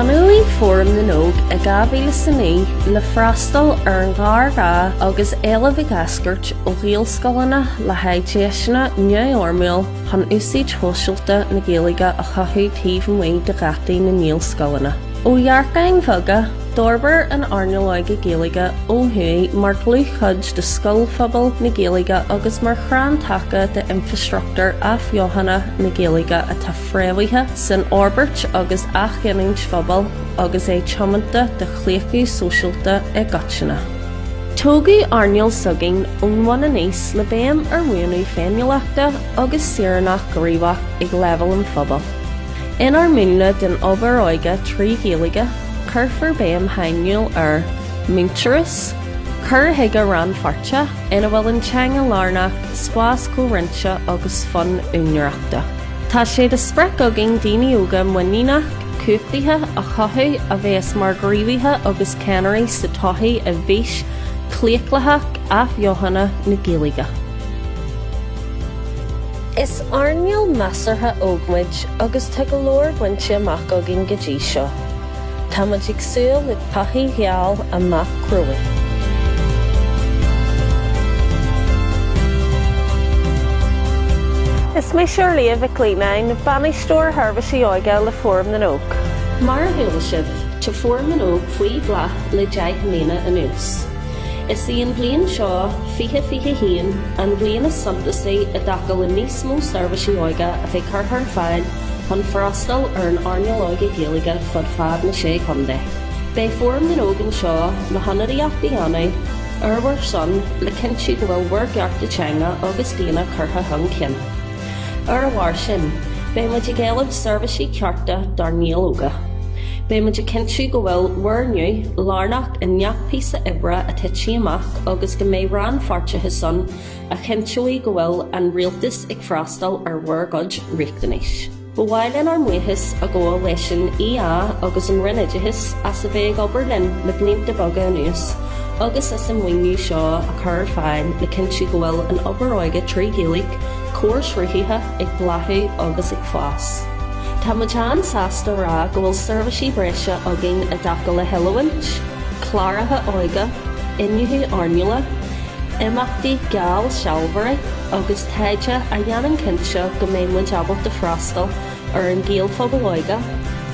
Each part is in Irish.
Bunaíodh Fóram na nÓg i 2009 le freastal ar an ghéarghá agus éileamh ag eascairt ó Ghaelscoileanna le haghaidh deiseanna neamhfhoirmiúil, chun úsaid shóisialta na Gaeilge a chothú taobh amuigh de gheataí na nGaelscoileanna. Ó dhearcáin bheaga, d'fhorbair an earnáil óige Gaeilge ó thuaidh mar dhlúthchuid de scoilphobal na Gaeilge agus mar chrann taca d'infreastruchtúr athbheochana na Gaeilge atá fréamhaithe san fhorbairt agus athghiniúint phobail agus é tiomanta do chlaochlú sóisialta i gcoitinne. Tógadh earnáil s'againn ón bhun aníos le béim ar mhúnlú féiniúlachta agus saoránach gníomhach ag leibhéal an phobail. Inár múnla den obair óige trí Ghaeilge, cuirfear béim shainiúil ar mhuintearas, cur chuige rannpháirteach ina bhfuil an teanga lárnach, spás comhroinnte agus fonn úinéireachta. Tá sé de sprioc againn daoine óga muiníneach, cumhachtaithe a chothú a bheas mar ghníomhaithe agus ceannairí sa tsochaí i bhfís chlaochlaitheach athbheochana na Gaeilge. Is earnáil measartha óg muid agus tá go leor bainte amach againn go dtí seo. Tá muid ag súil le todhchaí gheal amach romhainn. Is mise Orliath Mhic Leannáin, Bainisteoir Sheirbhísí Óige le Fóram na nÓg. Mar a chuala sibh, tá Fóram na nÓg faoi bhláth le deich mbliana anuas. Is í an bhliain seo, 2021, an bhliain is suntasaí i dtaca le níos mó seirbhísí óige a bheith curtha ar fáil, chun freastal ar an earnáil óige Gaeilge fud fad na Sé Chontae. Beidh Fóram na nÓg anseo le hionadaíocht a dhéanamh ar bhur son le cinntiú go bhfuil bhur gcearta teanga agus daonna curtha chun cinn. Ar a bharr sin, beidh muid ag éileamh seirbhísí cearta dár nGaeil óga. Beidh muid ag cinntiú go bhfuil bhur nguth lárnach i ngach píosa oibre a thitfidh amach agus go mbeidh rannpháirteachas ann a chinnteoidh go bhfuil an Rialtas ag freastal ar bhur gcuid riachtanais. Ba mhaith linn ár mbuíochas a ghabháil leis an EA agus an Roinn Oideachais as a bheith ag obair linn le blianta beaga anuas agus as an maoiniú seo a chur ar fáil le cinntiú go bhfuil an obair óige trí Ghaeilge comharshruthaithe ag bláthú agus ag fás. Tá muid an-sásta a rá go bhfuil seirbhísí breise againn i dtaca le hoiliúint, cláracha óige, iniúchadh earnála, imeachtaí geallsealbhóirí agus taighde a dhéanann cinnte go mbeidh muid ábalta a freastal ar an Ghaelphobal óige,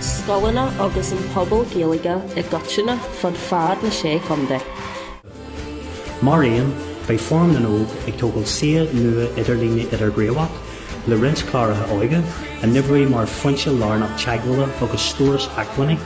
scoileanna agus an pobal Gaeilge i gcoitinne fud fad na Sé Chontae. Mar aon, beidh Fóram na nÓg ag tógáil suíomh nua idirlíne idirghníomhach le roinnt cláraithe óige, a n-oibreodh mar fhoinse lárnach teagmhála agus stóras acmhainní.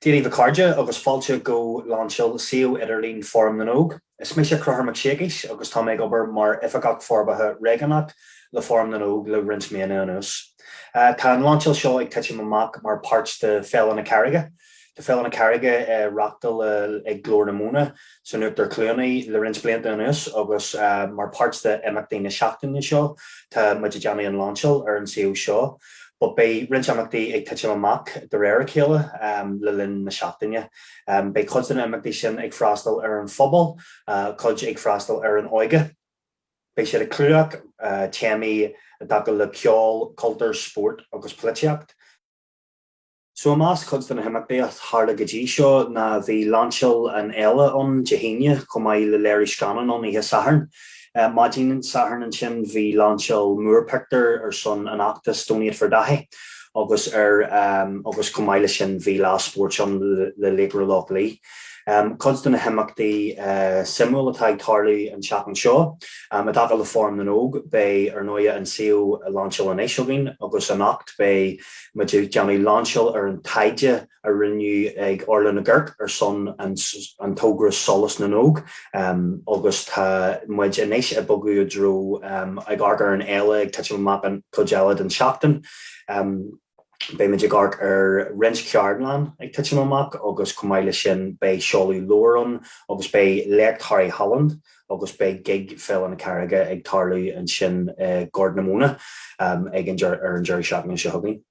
Dia daoibh a chairde agus fáilte go lainseáil suíomh idirlín Fóram na nÓg. Is mise Conchúr Mac Siacais agus tá mé ag obair mar Oifigeach Forbartha Réigiúnach le Fóram na nÓg le roinnt míonna anuas. Tá an lainseáil seo ag titim amach mar páirt de Féile na Carraige. Tá Féile na Carraige á reachtáil ag Glór na Móna san Uachtar Cluanaí le roinnt blianta anuas agus mar páirt de imeachtaí na seachtaine seo tá muid ag déanamh an lainseáil ar an suíomh seo but beidh roinnt imeachtaí ag titim amach de réir a chéile le linn na seachtaine. Beidh cuid de na imeachtaí sin ag freastal ar an phobal, cuid ag freastal ar an óige. Beidh siad ag clúdach téamaí i dtaca le ceol, cultúr, spórt agus polaitíocht. So i measc cuid de na himeachtaí a tharla go dtí seo ná, bhí lainseáil an Fhéile ann Dé hAoine chomh maith le léiriú scannán ann oíche Shathairn. Maidin Shathairn ansin bhí lainseáil múrphictiúr ar son an fheachtas Donate for Daithí agus ar agus chomh maith leis sin bhí lá spóirt ann le Laochra Loch Lao. Cuid de na himeachtaí suimiúil atá ag tarlú an tseachtain seo i dtaca le Fóram na nÓg beidh ar ndóigh an suíomh lainseáil anois againn agus anocht beidh Muid ag déanamh lainseáil ar an taighde a rinneadh ag Orla Nig Oirc ar son an togra Solas na nÓg agus tá muid anois ag bogadh i dtreo ag amharc ar an Fhéile ag titim amach an chuid eile den tseachtain. Beidh muid ag amharc ar roinnt ceardlann ag titim amach agus chomh maith leis sin beidh seoladh leabhar ann agus beidh Léacht Harry Holland, agus beidh gig Féile na Carraige ag tarlú ansin i Gort na Móna ag an ar an deireadh seachtaine seo chugainn.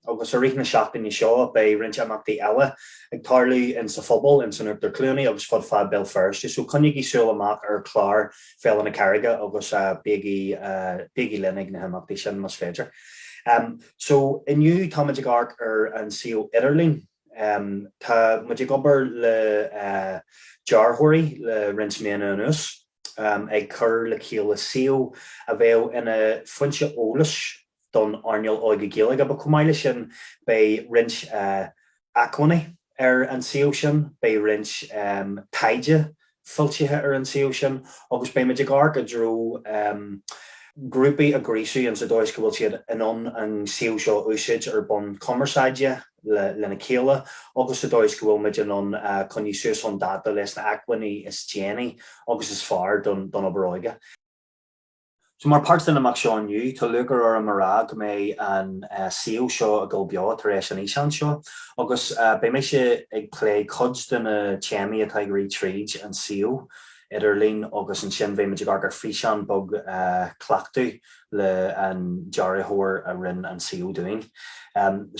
Agus i rith na seachtaine seo beidh roinnt imeachtaí eile ag tarlú in sa phobal, in san Uachtar Cluanaí agus fud fad Béal Feirste, so coinnígí súil amach ar chlár Féile na Carraige agus bígí bígí linn ag na himeachtaí sin más féidir. So inniu táimid ag amharc ar an suíomh idirlín. Tá muid ag obair le dearthóirí le roinnt míonna anuas, ag cur le chéile suíomh a bheadh ina foinse eolais don earnáil óige Gaeilge but chomh maith leis sin beidh roinnt acmhainní ar an suíomh sin, beidh roinnt taighde foilsithe ar an suíomh sin agus beimid ag amharc i dtreo grúpaí a ghríosú ins an dóigh is go bhfuil siad in ann an suíomh seo a úsáid ar bhonn cumarsáide lena chéile agus sa dóigh is go bhfuilmid in ann coinneadh suas chun dáta leis na acmhainní is déanaí agus is fearr don obair óige. So mar páirt den imeacht seo inniu, tá lúchair orm a rá go mbeidh an suíomh seo ag dul beo tar éis an fhíseáin seo agus beidh mise ag plé cuid de na téamaí atá ag rith tríd an suíomh idirlín agus ansin beidh muid ag amharc ar físeán beag cleachtaidh leis an dearthóir a rinne an suíomh dúinn.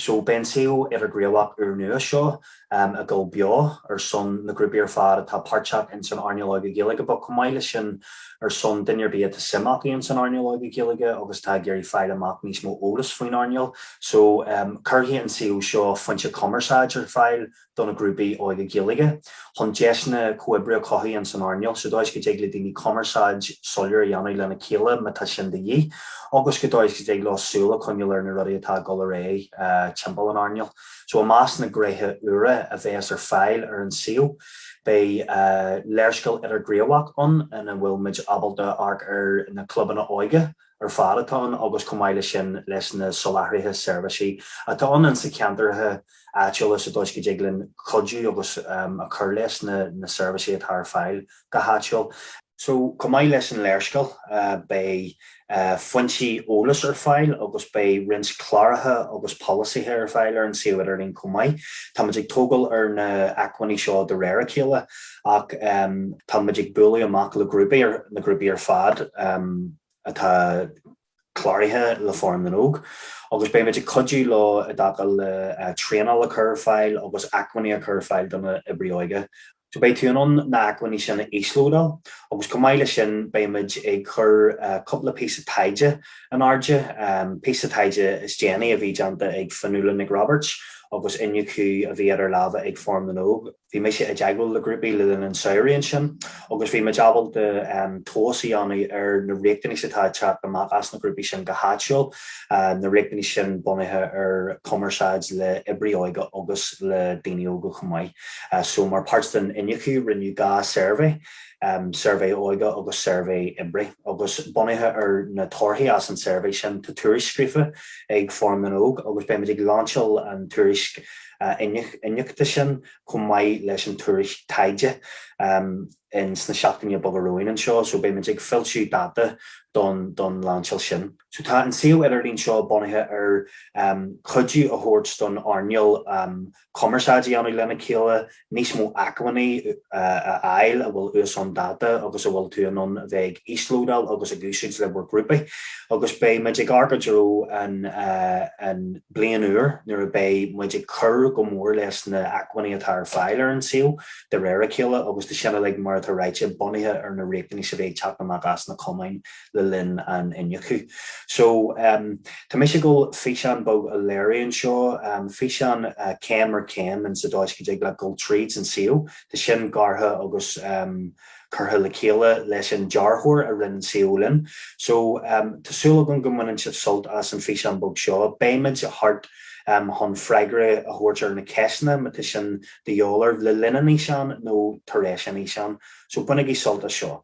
So beidh an suíomh idirghníomhach úrnua seo. ag dul beo ar son na grúpaí ar fad atá páirteach ins an earnáil óige Gaeilge but chomh maith leis sin ar son duine ar bith atá suim acu ins an earnáil óige Gaeilge agus atá ag iarraidh fáil amach níos mó eolas faoin earnáil so cuirfidh an suíomh seo foinse cumarsáid ar fáil do na grúpaí óige Gaeilge chun deiseanna comhoibre a chothú ins an earnáil sa dóigh go dtig le daoine cumarsáid soiléir a dhéanamh lena chéile má tá sin de dhíth agus sa dóigh go dtig leo súil a choinneáil ar na rudaí atá ag dul ar aghaidh timpeall an earnáil. So i measc na ngréithe úra a bheas ar fáil ar an suíomh beidh léarscáil idirghníomhach ann ina bhfuil muid ábalta amharc ar na clubanna óige ar fad atá ann agus chomh maith leis sin leis na soláthraithe seirbhísí atá ann sna ceantracha áitiúla sa dóigh go dtig linn cuidiú agus a chur leis na seirbhísí atá ar fáil go háitiúil. So chomh maith leis an léarscáil, beidh foinsí eolais ar fáil agus beidh roinnt cláracha agus polasaithe ar fáil ar an suíomh idirlín chomh maith. Táimid ag tógáil ar na acmhainní seo de réir a chéile ach táimid ag bualadh amach le grúpaí, na grúpaí ar fad atá. cláraithe le Fóram na nÓg agus beimid ag cuidiú leo i dtaca le traenáil a chur ar fáil agus acmhainní a chur ar fáil do na oibrithe óige. So beidh tú in ann na acmhainní sin a íoslódáil agus chomh maith leis sin beimid ag cur cúpla píosa taighde in airde, an píosa taighde is déanaí a bhí déanta ag Fionnuala Nic Roibeaird agus iniúchadh a bhí idir lámha ag Fóram na nÓg. Bhí mise i dteagmháil le grúpaí le linn an tsamhraidh ansin agus bhí muid ábalta tomhas a dhéanamh ar na riachtanais atá ag teacht amach as na grúpaí sin go háitiúil, na riachtanais sin bunaithe ar chumarsáid le hoibrithe óige agus le daoine óga chomh maith. So mar páirt den iniúchadh rinneadh dhá suirbhé, suirbhé óige agus suirbhé oibrithe, agus bunaithe ar na torthaí as an tsuirbhé sin tá tuairisc scríofa ag Fóram na nÓg agus beimid ag lainseáil an tuairisc iniúchta sin chomh maith leis an tuairisc taighde in sna seachtainí beaga romhainn anseo so beimid ag foilsiú dáta don lainseáil sin. So tá an suíomh idirlín seo bunaithe ar cuidiú a thabhairt don earnáil cumarsáid a dhéanamh lena chéile, níos mó acmhainní a fháil atá suas chun dáta agus a bhfuil tú in ann a bheith ag íoslódáil agus ag úsáid le bhur grúpaí. Agus beidh muid ag amharc i dtreo an bliain úir nuair a beidh muid ag cur go mór leis na acmhainní atá ar fáil ar an suíomh de réir a chéile agus tá sin uilig, mar atá ráite, bunaithe ar na riachtanais a bheas ag teacht amach as na cumainn. le linn an iniúchadh. So, tá mise ag dul físeán beag a léiriú anseo, físeán céim ar chéim in sa dóigh go dtig leat dul tríd san suíomh. Tá sin gearrtha agus curtha le chéile leis an dearthóir a rinne an suíomh linn. So, tá súil agam go mbaineann sibh sult as an físeán beag seo. Beimid thart chun freagra a thabhairt ar na ceisteanna má tá sin de dhíobháil oraibh le linn an fhíseáin nó tar éis an fhíseáin. So, bainigí sult as seo.